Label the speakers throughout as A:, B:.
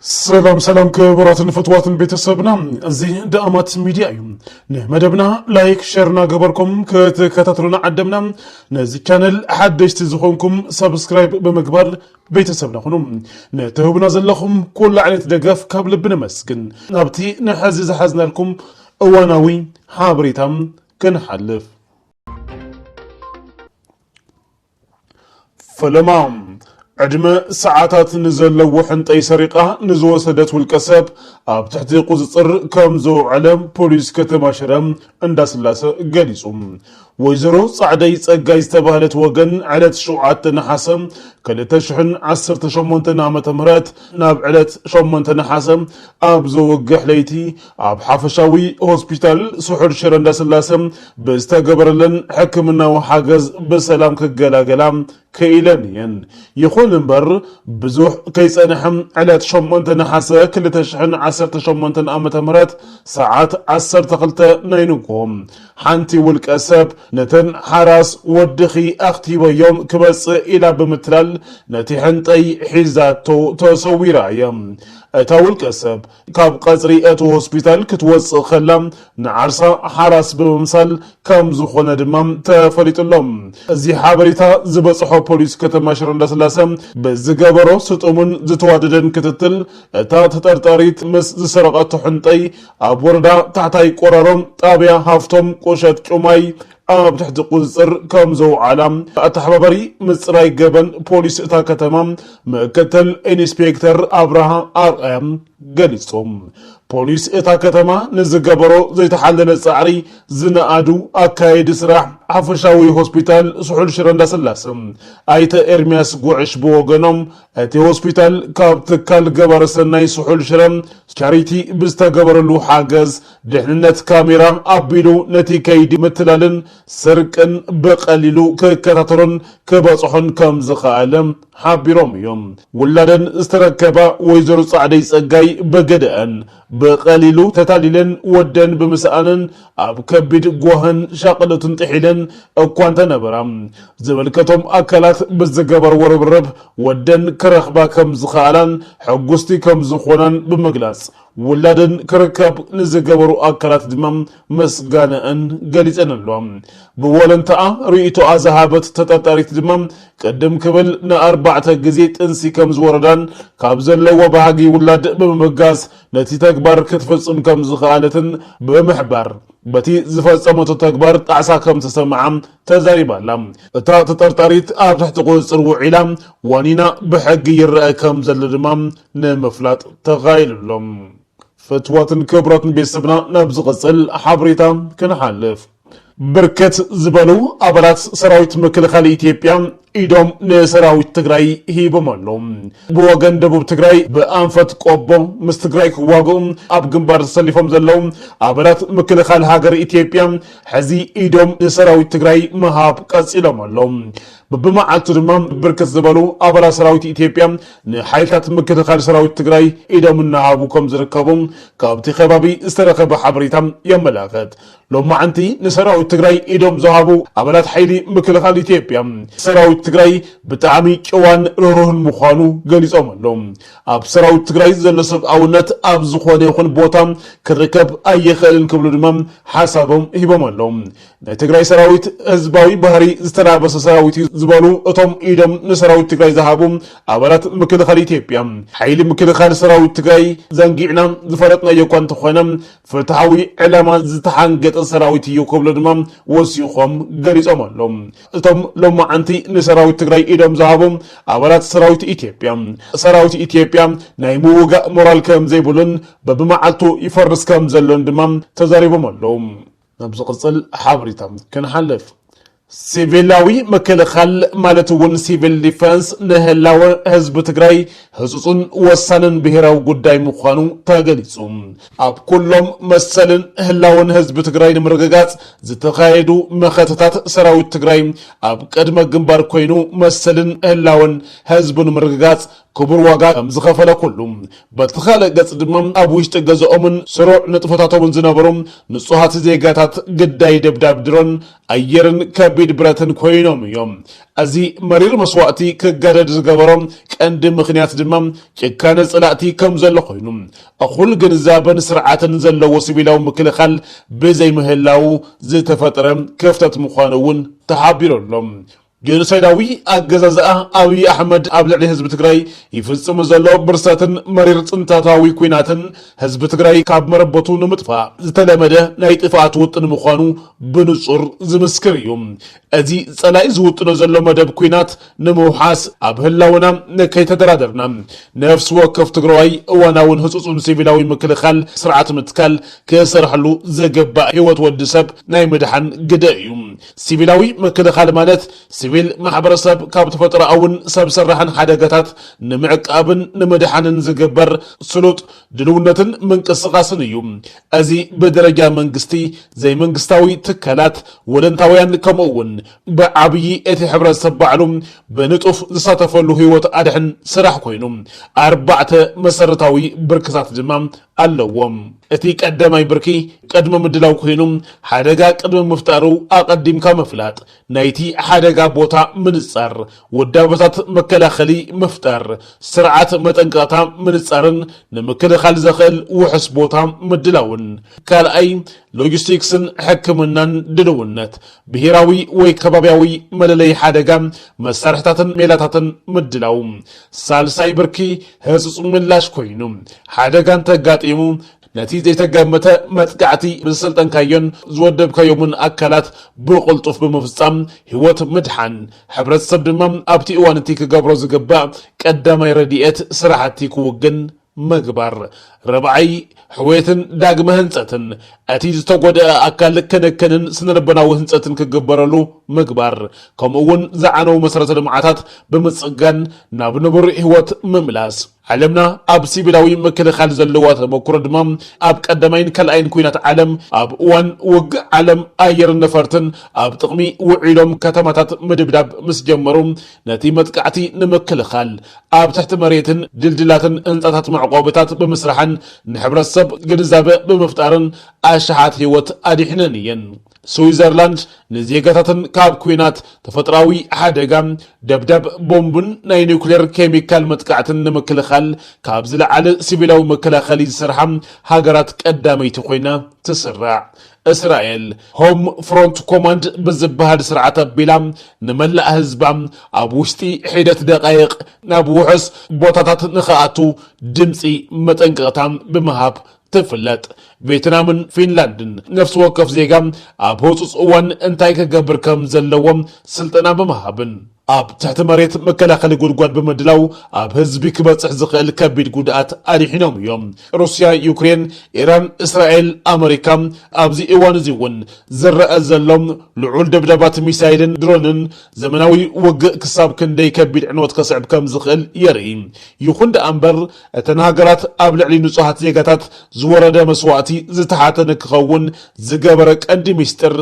A: ሰላም ሰላም ክቡራትን ፍትዋትን ቤተሰብና እዚ ደኣማት ሚድያ እዩ ንመደብና ላይክ ሸር እናገበርኩም ክትከታተሉና ዓደምና ነዚ ቻነል ሓደሽቲ ዝኾንኩም ሰብስክራይብ ብምግባር ቤተሰብና ኹኑ ንትህቡና ዘለኹም ኩሉ ዓይነት ደገፍ ካብ ልቢ ነመስግን ናብቲ ንሐዚ ዝሓዝናልኩም እዋናዊ ሓበሬታ ክንሓልፍ ፈለማ ዕድመ ሰዓታት ንዘለዎ ሕንጠይ ሰሪቓ ንዝወሰደት ውልቀ ሰብ ኣብ ትሕቲ ቁፅፅር ከም ዘውዐለ ፖሊስ ከተማ ሽረ እንዳስላሰ ገሊፁ። ወይዘሮ ፃዕደይ ፀጋይ ዝተባህለት ወገን ዕለት ሸውዓተ ነሓሰ ክልተ ሽሕን ዓሰርተ ሸሞንተን ዓመተ ምህረት ናብ ዕለት ሸሞንተ ነሓሰ ኣብ ዘወግሕ ለይቲ ኣብ ሓፈሻዊ ሆስፒታል ስሑል ሽረ እንዳስላሰ ብዝተገበረለን ሕክምናዊ ሓገዝ ብሰላም ክገላገላ ክኢለን እየን። ይኹን እምበር ብዙሕ ከይፀንሐ ዕለት ሸሞንተ ነሓሰ ክልተ ሽሕን ዓሰርተ ሸሞንተን ዓመተ ምህረት ሰዓት ዓሰርተ ክልተ ናይ ንግሆ ሓንቲ ውልቀ ሰብ ነተን ሓራስ ወድኺ ኣኽቲበዮም ክመፅእ ኢላ ብምትላል ነቲ ሕንጠይ ሒዛቶ ተሰዊራ እያ። እታ ውልቀ ሰብ ካብ ቐፅሪ እቲ ሆስፒታል ክትወፅእ ከላ ንዓርሳ ሓራስ ብምምሳል ከምዝኾነ ድማ ተፈሊጡ'ሎ። እዚ ሓበሬታ ዝበፅሖ ፖሊስ ከተማ ሽረ እንዳስላሰ ብዝገበሮ ስጡምን ዝተዋደደን ክትትል እታ ተጠርጣሪት ምስ ዝሰረቐቶ ሕንጠይ ኣብ ወረዳ ታሕታይ ቆራሮ ጣብያ ሃፍቶም ቁሸት ጩማይ ኣብ ትሕቲ ቁፅፅር ከም ዘውዓላ ኣተሓባባሪ ምፅራይ ገበን ፖሊስ እታ ከተማ ምክትል ኢንስፔክተር ኣብርሃ ኣርኣያ ገሊፆም። ፖሊስ እታ ከተማ ንዝገበሮ ዘይተሓለለ ፃዕሪ ዝነኣዱ ኣካየዲ ስራሕ ሓፈሻዊ ሆስፒታል ስሑል ሽረ እንዳስላሰ ኣይተ ኤርሚያስ ጉዕሽ ብወገኖም እቲ ሆስፒታል ካብ ትካል ገባሪ ሰናይ ስሑል ሽረ ቻሪቲ ብዝተገበረሉ ሓገዝ ድሕንነት ካሜራ ኣቢሉ ነቲ ከይዲ ምትላልን ስርቅን ብቐሊሉ ክከታተሎን ክበፅሖን ከምዝኸኣለ ሓቢሮም እዮም። ውላደን ዝተረከባ ወይዘሮ ፃዕደይ ፀጋይ ብግደኣን፣ ብቐሊሉ ተታሊለን ወደን ብምስኣነን ኣብ ከቢድ ጓህን ሻቕሎትን ጥሒለን እኳ እንተነበራ ዝምልከቶም ኣካላት ብዝገበርዎ ርብርብ ወደን ክረኽባ ከምዝኸኣላን ሕጉስቲ ከምዝኾናን ብምግላፅ ውላደን ክርከብ ንዝገበሩ ኣካላት ድማ ምስጋነኣን ገሊፀን ኣለዋ። ብወለንታኣ ርኢቶኣ ዝሃበት ተጠርጣሪት ድማ ቅድም ክብል ንኣርባዕተ ግዜ ጥንሲ ከምዝወረዳን ካብ ዘለዋ ባህጊ ውላድ ብምብጋስ ነቲ ተግባር ክትፍፅም ከምዝኸኣለትን ብምሕባር በቲ ዝፈፀመቶ ተግባር ጣዕሳ ከምዝተሰምዓ ተዛሪባ ኣላ። እታ ተጠርጣሪት ኣብ ትሕቲ ቁፅፅር ውዒላ ዋኒና ብሕጊ ይረኣ ከምዘሎ ድማ ንምፍላጥ ተኻኢሉ ኣሎ። ፍትወትን ክብረትን ቤተሰብና ናብ ዝቕጽል ሓበሬታ ክንሓልፍ፣ ብርክት ዝበሉ ኣባላት ሰራዊት ምክልኻል ኢትዮጵያ ኢዶም ንሰራዊት ትግራይ ሂቦም ኣለዉ። ብወገን ደቡብ ትግራይ ብኣንፈት ቆቦ ምስ ትግራይ ክዋግኡ ኣብ ግንባር ተሰሊፎም ዘለዉ ኣባላት ምክልኻል ሃገር ኢትዮጵያ ሕዚ ኢዶም ንሰራዊት ትግራይ ምሃብ ቀጺሎም ኣለዉ። ብብመዓልቱ ድማ ብርክት ዝበሉ ኣባላት ሰራዊት ኢትዮጵያ ንሓይልታት ምክልኻል ሰራዊት ትግራይ ኢዶም እናሃቡ ከም ዝርከቡ ካብቲ ከባቢ ዝተረኸበ ሓበሬታ የመላኽት። ሎማዕንቲ ንሰራዊት ትግራይ ኢዶም ዝሃቡ ኣባላት ሓይሊ ምክልኻል ኢትዮጵያ ሰራዊት ትግራይ ብጣዕሚ ጭዋን ርህሩህን ምዃኑ ገሊፆም ኣለው። ኣብ ሰራዊት ትግራይ ዘሎ ሰብኣውነት ኣብ ዝኾነ ይኹን ቦታ ክርከብ ኣይኽእልን ክብሉ ድማ ሓሳቦም ሂቦም ኣለው። ናይ ትግራይ ሰራዊት ህዝባዊ ባህሪ ዝተላበሰ ሰራዊት እዩ ዝበሉ እቶም ኢዶም ንሰራዊት ትግራይ ዝሃቡ ኣባላት ምክልኻል ኢትዮጵያ፣ ሓይሊ ምክልኻል ሰራዊት ትግራይ ዘንጊዕና ዝፈለጥናዮ እኳ እንተኾነ ፍትሓዊ ዕላማ ዝተሓንገጠ ሰራዊት እዩ ክብሉ ድማ ወሲኾም ገሊፆም ኣለው። እቶም ሎማዓንቲ ንሰራዊት ትግራይ ኢዶም ዝሃቡ ኣባላት ሰራዊት ኢትዮጵያ፣ ሰራዊት ኢትዮጵያ ናይ ምውጋእ ሞራል ከምዘይብሉን በቢመዓልቱ ይፈርስ ከምዘሎን ድማ ተዛሪቦም ኣለው። ናብ ዝቕጽል ሓበሬታ ክንሓልፍ፣ ሲቪላዊ ምክልኻል ማለት እውን ሲቪል ዲፈንስ ንህላወ ህዝቢ ትግራይ ህፁፁን ወሳንን ብሄራዊ ጉዳይ ምዃኑ ተገሊፁ። ኣብ ኩሎም መሰልን ህላወን ህዝቢ ትግራይ ንምርግጋፅ ዝተኻየዱ መኸተታት ሰራዊት ትግራይ ኣብ ቅድመ ግንባር ኮይኑ መሰልን ህላወን ህዝቡ ንምርግጋፅ ክቡር ዋጋ ከም ዝኸፈለ ኩሉ፣ በቲ ካልእ ገጽ ድማ ኣብ ውሽጢ ገዝኦምን ስሩዕ ንጥፈታቶምን ዝነበሩ ንጹሃት ዜጋታት ግዳይ ደብዳብ ድሮን ኣየርን ከቢድ ብረትን ኮይኖም እዮም። እዚ መሪር መስዋእቲ ክጋደድ ዝገበሮ ቀንዲ ምኽንያት ድማ ጭካነ ጸላእቲ ከም ዘሎ ኮይኑ፣ እኹል ግንዛበን ስርዓትን ዘለዎ ሲቪላዊ ምክልኻል ብዘይምህላዉ ዝተፈጥረ ክፍተት ምዃኑ እውን ተሓቢሩ ኣሎ። ጌኖሳይዳዊ ኣገዛዝኣ ኣብይ ኣሕመድ ኣብ ልዕሊ ህዝቢ ትግራይ ይፍፅም ዘሎ ብርሰትን መሪር ፅንተታዊ ኲናትን ህዝቢ ትግራይ ካብ መረበቱ ንምጥፋእ ዝተለመደ ናይ ጥፍኣት ውጥን ምዃኑ ብንፁር ዝምስክር እዩ። እዚ ፀላኢ ዝውጥኖ ዘሎ መደብ ኲናት ንምውሓስ ኣብ ህላውና ከይተደራደርና ነፍሲ ወከፍ ትግራዋይ እዋናውን ህፁፁን ሲቪላዊ ምክልኻል ስርዓት ምትካል ክሰርሐሉ ዘገባእ ህይወት ወዲ ሰብ ናይ ምድሓን ግደ እዩ። ሲቪላዊ ምክልኻል ማለት ሲቪል ማሕበረሰብ ካብ ተፈጥሮኣውን ሰብ ሰራሕን ሓደጋታት ንምዕቃብን ንምድሓንን ዝግበር ስሉጥ ድልውነትን ምንቅስቓስን እዩ። እዚ ብደረጃ መንግስቲ፣ ዘይመንግስታዊ ትካላት፣ ወለንታውያን ከምኡ እውን ብዓብዪ እቲ ሕብረተሰብ ባዕሉ ብንጡፍ ዝሳተፈሉ ህይወት ኣድሕን ስራሕ ኮይኑ ኣርባዕተ መሰረታዊ ብርክታት ድማ ኣለዎ። እቲ ቀዳማይ ብርኪ ቅድሚ ምድላው ኮይኑ ሓደጋ ቅድሚ ምፍጣሩ ኣቐዲምካ ምፍላጥ፣ ናይቲ ሓደጋ ቦታ ምንጻር፣ ውዳበታት መከላኸሊ ምፍጣር፣ ስርዓት መጠንቀቕታ ምንጻርን ንምክልኻል ዘኽእል ውሑስ ቦታ ምድላውን። ካልኣይ፣ ሎጂስቲክስን ሕክምናን ድልውነት፣ ብሄራዊ ወይ ከባብያዊ መለለዪ ሓደጋ መሳርሕታትን ሜላታትን ምድላው። ሳልሳይ ብርኪ ህጹጽ ምላሽ ኮይኑ ሓደጋ እንተጋጢሙ ነቲ ዘይተገመተ መጥቃዕቲ ብዝሰልጠንካዮን ዝወደብካዮምን ኣካላት ብቕልጡፍ ብምፍጻም ህይወት ምድሓን፣ ሕብረተሰብ ድማ ኣብቲ እዋን እቲ ክገብሮ ዝግባእ ቀዳማይ ረድኤት ስራሕቲ ክውግን ምግባር። ርብዓይ፣ ሕውየትን ዳግመ ህንጸትን፣ እቲ ዝተጎድኣ ኣካል ክንክንን ስነልቦናዊ ህንጸትን ክግበረሉ ምግባር፣ ከምኡ'ውን ዝዓነዉ መሰረተ ልምዓታት ብምጽጋን ናብ ንቡር ህይወት ምምላስ። ዓለምና ኣብ ሲቪላዊ ምክልኻል ዘለዋ ተመኩሮ ድማ ኣብ ቀዳማይን ካልኣይን ኲናት ዓለም፣ ኣብ እዋን ውግእ ዓለም ኣየርን ነፈርትን ኣብ ጥቕሚ ውዒሎም ከተማታት ምድብዳብ ምስ ጀመሩ ነቲ መጥቃዕቲ ንምክልኻል ኣብ ትሕቲ መሬትን ድልድላትን ህንጻታት መዕቆቢታት ብምስራሕን ንሕብረተሰብ ግንዛበ ብምፍጣርን ኣሽሓት ህይወት ኣድሒነን እየን። ስዊዘርላንድ ንዜጋታተን ካብ ኲናት፣ ተፈጥሮኣዊ ሓደጋ፣ ደብዳብ ቦምብን ናይ ኒዩክሌር ኬሚካል መጥቃዕትን ንምክልኻል ካብ ዝለዓለ ሲቪላዊ መከላኸሊ ዝሰርሓ ሃገራት ቀዳመይቲ ኮይና ትስራዕ። እስራኤል፣ ሆም ፍሮንት ኮማንድ ብዝበሃል ስርዓት ኣቢላ ንመላእ ህዝባ ኣብ ውሽጢ ሒደት ደቓይቕ ናብ ውሑስ ቦታታት ንኽኣቱ ድምጺ መጠንቀቕታ ብምሃብ ትፍለጥ። ቬትናምን ፊንላንድን ነፍሲ ወከፍ ዜጋ ኣብ ህጹጽ እዋን እንታይ ክገብር ከም ዘለዎ ስልጠና ብምሃብን ኣብ ትሕቲ መሬት መከላኸሊ ጉድጓድ ብምድላው ኣብ ህዝቢ ክበጽሕ ዝኽእል ከቢድ ጉድኣት ኣድሒኖም እዮም። ሩስያ፣ ዩክሬን፣ ኢራን፣ እስራኤል፣ ኣመሪካ ኣብዚ እዋን እዚ እውን ዝረኣ ዘሎ ልዑል ደብዳባት ሚሳይልን ድሮንን ዘመናዊ ውግእ ክሳብ ክንደይ ከቢድ ዕንወት ከስዕብ ከም ዝኽእል የርኢ። ይኹን ደኣ እምበር፣ እተን ሃገራት ኣብ ልዕሊ ንጹሃት ዜጋታት ዝወረደ መስዋእቲ ዝተሓተ ንክኸውን ዝገበረ ቀንዲ ሚስጥር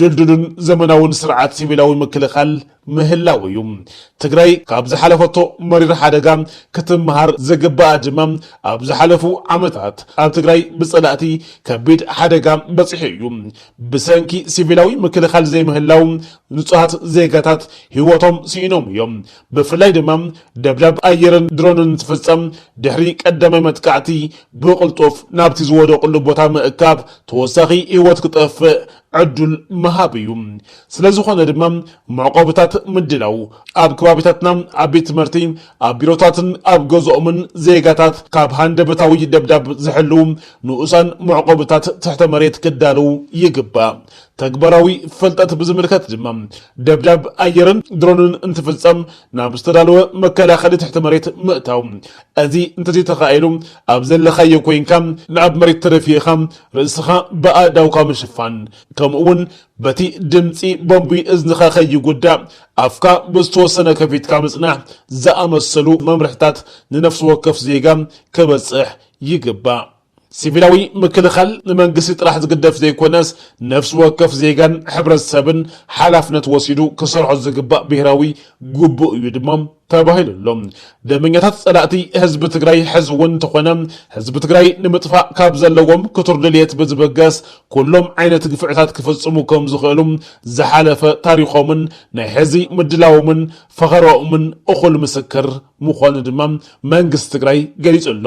A: ድልዱልን ዘመናውን ስርዓት ሲቪላዊ ምክልኻል ምህላው እዩ። ትግራይ ካብ ዝሓለፈቶ መሪር ሓደጋ ክትመሃር ዝግበኣ ድማ ኣብ ዝሓለፉ ዓመታት ኣብ ትግራይ ብፀላእቲ ከቢድ ሓደጋ በፂሑ እዩ። ብሰንኪ ሲቪላዊ ምክልኻል ዘይምህላው ንጹሃት ዜጋታት ህይወቶም ስኢኖም እዮም። ብፍላይ ድማ ደብዳብ ኣየርን ድሮንን እንትፍጸም ድሕሪ ቀዳማይ መጥቃዕቲ ብቕልጡፍ ናብቲ ዝወደቕሉ ቦታ ምእካብ ተወሳኺ ህይወት ክጠፍእ ዕዱል ምሃብ እዩ። ስለዝኾነ ድማ መዕቆብታት ምድላው፣ ኣብ ከባቢታትና ኣብ ቤት ትምህርቲ፣ ኣብ ቢሮታትን ኣብ ገዝኦምን ዜጋታት ካብ ሃንደበታዊ ደብዳብ ዝሕልው ንኡሳን መዕቆብታት ትሕተ መሬት ክዳለው ይግባእ። ተግባራዊ ፍልጠት ብዝምልከት ድማ ደብዳብ ኣየርን ድሮንን እንትፍፀም ናብ ዝተዳለወ መከላኸሊ ትሕቲ መሬት ምእታው። እዚ እንተዘይተኻኢሉ ኣብ ዘለኻዮ ኮይንካ ንኣብ መሬት ተደፊእኻ ርእስኻ ብኣእዳውካ ምሽፋን ከምኡ እውን በቲ ድምፂ ቦምቢ እዝንኻ ከይጉዳእ ኣፍካ ብዝተወሰነ ከፊትካ ምፅናሕ ዝኣመሰሉ መምርሕታት ንነፍሲ ወከፍ ዜጋ ከበፅሕ ይግባእ። ሲቪላዊ ምክልኻል ንመንግስቲ ጥራሕ ዝግደፍ ዘይኮነስ ነፍሲ ወከፍ ዜጋን ሕብረተሰብን ሓላፍነት ወሲዱ ክሰርሖ ዝግባእ ብሄራዊ ግቡእ እዩ ድማ ተባሂሉ ኣሎ። ደመኛታት ፀላእቲ ህዝቢ ትግራይ ሕዚ እውን እንተኾነ ህዝቢ ትግራይ ንምጥፋእ ካብ ዘለዎም ክቱር ድልየት ብዝብገስ ኩሎም ዓይነት ግፍዕታት ክፍፅሙ ከም ዝኽእሉ ዝሓለፈ ታሪኾምን ናይ ሕዚ ምድላዎምን ፈኸራኦምን እኹል ምስክር ምዃኑ ድማ መንግስቲ ትግራይ ገሊፁ ኣሎ።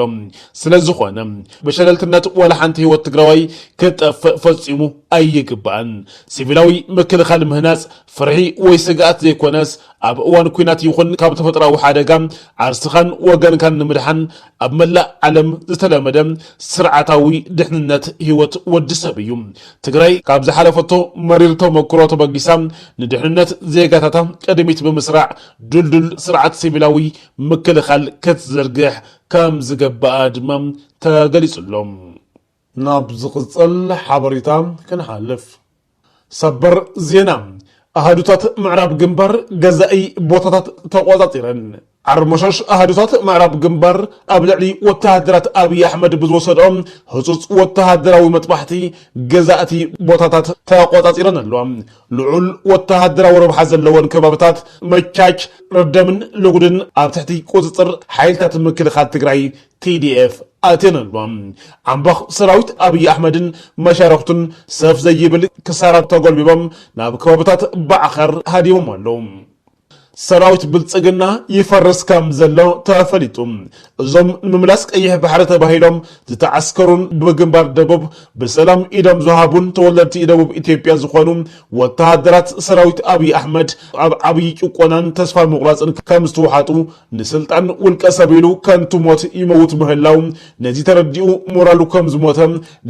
A: ስለዝኾነ ብሸለልትነት ዋላ ሓንቲ ህይወት ትግራዋይ ክትጠፍእ ፈፂሙ ኣይግባእን። ሲቪላዊ ምክልኻል ምህናፅ ፍርሒ ወይ ስግኣት ዘይኮነስ ኣብ እዋን ኲናት ይኹን ካብ ተፈጥሮኣዊ ሓደጋ ዓርስኻን ወገንካን ንምድሓን ኣብ መላእ ዓለም ዝተለመደ ስርዓታዊ ድሕንነት ህይወት ወዲ ሰብ እዩ። ትግራይ ካብ ዝሓለፈቶ መሪር ተሞክሮ ተበጊሳ ንድሕንነት ዜጋታታ ቅድሚት ብምስራዕ ድልዱል ስርዓት ሲቪላዊ ምክልኻል ክትዝርግሕ ከምዝገበኣ ድማ ተገሊፁ'ሎ። ናብ ዝቕፅል ሓበሬታ ክንሓልፍ። ሰበር ዜና፣ ኣሃዱታት ምዕራብ ግንባር ገዛኢ ቦታታት ተቖፃፂረን። ዓርሞሸሽ ኣሃዱታት ምዕራብ ግንባር ኣብ ልዕሊ ወተሃደራት ኣብይ ኣሕመድ ብዝወሰድኦ ህፁፅ ወተሃደራዊ መጥባሕቲ ገዛእቲ ቦታታት ተቖፃፂረን ኣለዋ። ልዑል ወተሃደራዊ ረብሓ ዘለወን ከባብታት መቻች፣ ረደምን ሎጉድን ኣብ ትሕቲ ቁፅፅር ሓይልታት ምክልኻል ትግራይ፣ TDF፣ ኣትየን ኣለዋ። ዓምባኽ ሰራዊት ኣብይ ኣሕመድን መሻርኽቱን ሰፍ ዘይብል ክሳራ ተጎልቢቦም ናብ ከባብታት ባዕኸር ሃዲሞም ኣለዉ። ሰራዊት ብልፅግና ይፈርስ ከም ዘሎ ተፈሊጡ። እዞም ንምምላስ ቀይሕ ባሕሪ ተባሂሎም ዝተዓስከሩን ብግንባር ደቡብ ብሰላም ኢዶም ዝሃቡን ተወለድቲ ደቡብ ኢትዮጵያ ዝኾኑ ወተሃደራት ሰራዊት ኣብይ ኣሕመድ ኣብ ዓብዪ ጭቆናን ተስፋ ምቑራፅን ከም ዝተውሓጡ ንስልጣን ውልቀ ሰብ ኢሉ ከንቱ ሞት ይመውት ምህላው ነዚ ተረዲኡ ሞራሉ ከም ዝሞተ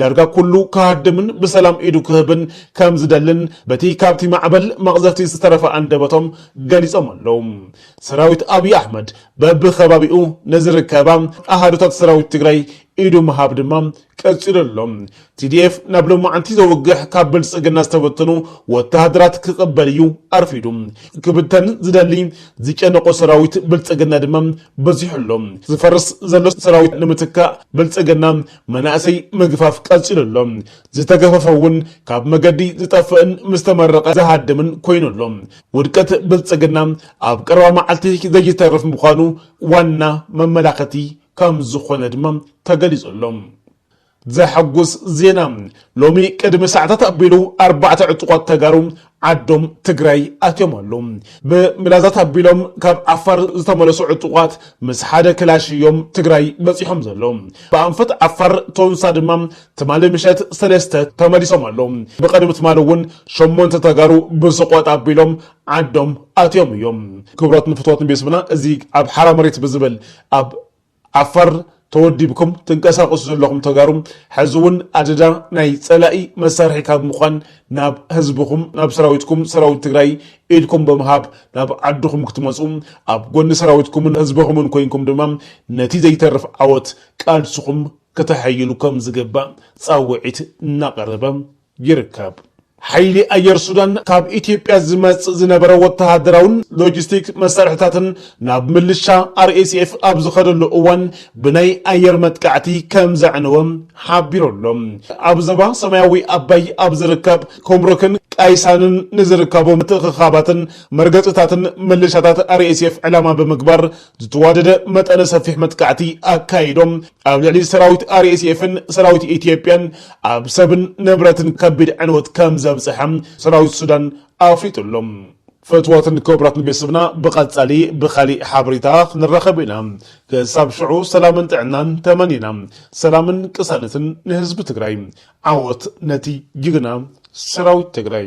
A: ዳርጋ ኩሉ ክሃድምን ብሰላም ኢዱ ክህብን ከም ዝደልን በቲ ካብቲ ማዕበል መቕዘፍቲ ዝተረፈ ኣንደበቶም ገሊጾም ኣለዉ። ሰራዊት ኣብዪ ኣሕመድ በብከባቢኡ ንዝርከባ ኣሃዱታት ሰራዊት ትግራይ ኢዱ ምሃብ ድማ ቀጺሉ ኣሎ። TDF ናብ ሎማዕንቲ ዘውግሕ ካብ ብልጽግና ዝተበተኑ ወተሃደራት ክቕበል እዩ ኣርፊዱ። ክብተን ዝደሊ ዝጨነቖ ሰራዊት ብልጽግና ድማ በዚሑ ኣሎ። ዝፈርስ ዘሎ ሰራዊት ንምትካእ ብልጽግና መናእሰይ ምግፋፍ ቀፂሉ ኣሎ። ዝተገፈፈ እውን ካብ መገዲ ዝጠፍእን ምስ ተመረቐ ዝሃድምን ኮይኑ ኣሎ። ውድቀት ብልፅግና ኣብ ቀረባ መዓልቲ ዘይተርፍ ምዃኑ ዋና መመላኸቲ ከም ዝኾነ ድማ ተገሊፁ ኣሎ። ዘሐጉስ ዜና ሎሚ ቅድሚ ሰዓታት ኣቢሉ ኣርባዕተ ዕጡቋት ተጋሩ ዓዶም ትግራይ ኣትዮም ኣለው። ብምላዛት ኣቢሎም ካብ ዓፋር ዝተመለሱ ዕጡቓት ምስ ሓደ ክላሽ እዮም ትግራይ በፂሖም ዘለው። ብኣንፈት ዓፋር ቶንሳ ድማ ትማሊ ምሸት ሰለስተ ተመሊሶም ኣለው። ብቐድሚ ትማሊ እውን ሸሞንተ ተጋሩ ብስቆጥ ኣቢሎም ዓዶም ኣትዮም እዮም። ክብረትን ፍትወትን ቤስብና እዚ ኣብ ሓራ መሬት ብዝብል ኣብ ዓፋር ተወዲብኩም ትንቀሳቀሱ ዘለኹም ተጋሩ ሐዚ እውን ኣደዳ ናይ ፀላኢ መሳርሒ ካብ ምዃን ናብ ህዝብኹም ናብ ሰራዊትኩም ሰራዊት ትግራይ ኢድኩም ብምሃብ ናብ ዓድኹም ክትመፁ ኣብ ጎኒ ሰራዊትኩምን ህዝብኹምን ኮይንኩም ድማ ነቲ ዘይተርፍ ዓወት ቃልስኹም ክተሐይሉ ከምዝግባእ ፃውዒት እናቀረበ ይርከብ። ሓይሊ ኣየር ሱዳን ካብ ኢትዮጵያ ዝመጽእ ዝነበረ ወተሃደራውን ሎጂስቲክ መሳርሒታትን ናብ ምልሻ RSF ኣብ ዝኸደሉ እዋን ብናይ ኣየር መጥቃዕቲ ከም ዘዕነወ ሓቢሩ ኣሎ። ኣብ ዞባ ሰማያዊ ኣባይ ኣብ ዝርከብ ኩምሩክን ቃይሳንን ንዝርከቡ ምትእኽኻባትን መርገጺታትን ምልሻታት RSF ዕላማ ብምግባር ዝተዋደደ መጠነ ሰፊሕ መጥቃዕቲ ኣካይዶም ኣብ ልዕሊ ሰራዊት ኣርኤስኤፍን ሰራዊት ኢትዮጵያን ኣብ ሰብን ንብረትን ከቢድ ዕንወት ከም ዘብፅሐ ሰራዊት ሱዳን ኣፍሊጡ ኣሎ። ፍትዋትን ክብራትን ቤተሰብና ብቀጻሊ ብካሊእ ሓበሬታ ክንራከብ ኢና ክሳብ ሽዑ ሰላምን ጥዕናን ተመኒና ሰላምን ቅሳነትን ንህዝቢ ትግራይ ዓወት ነቲ ጅግና ሰራዊት ትግራይ።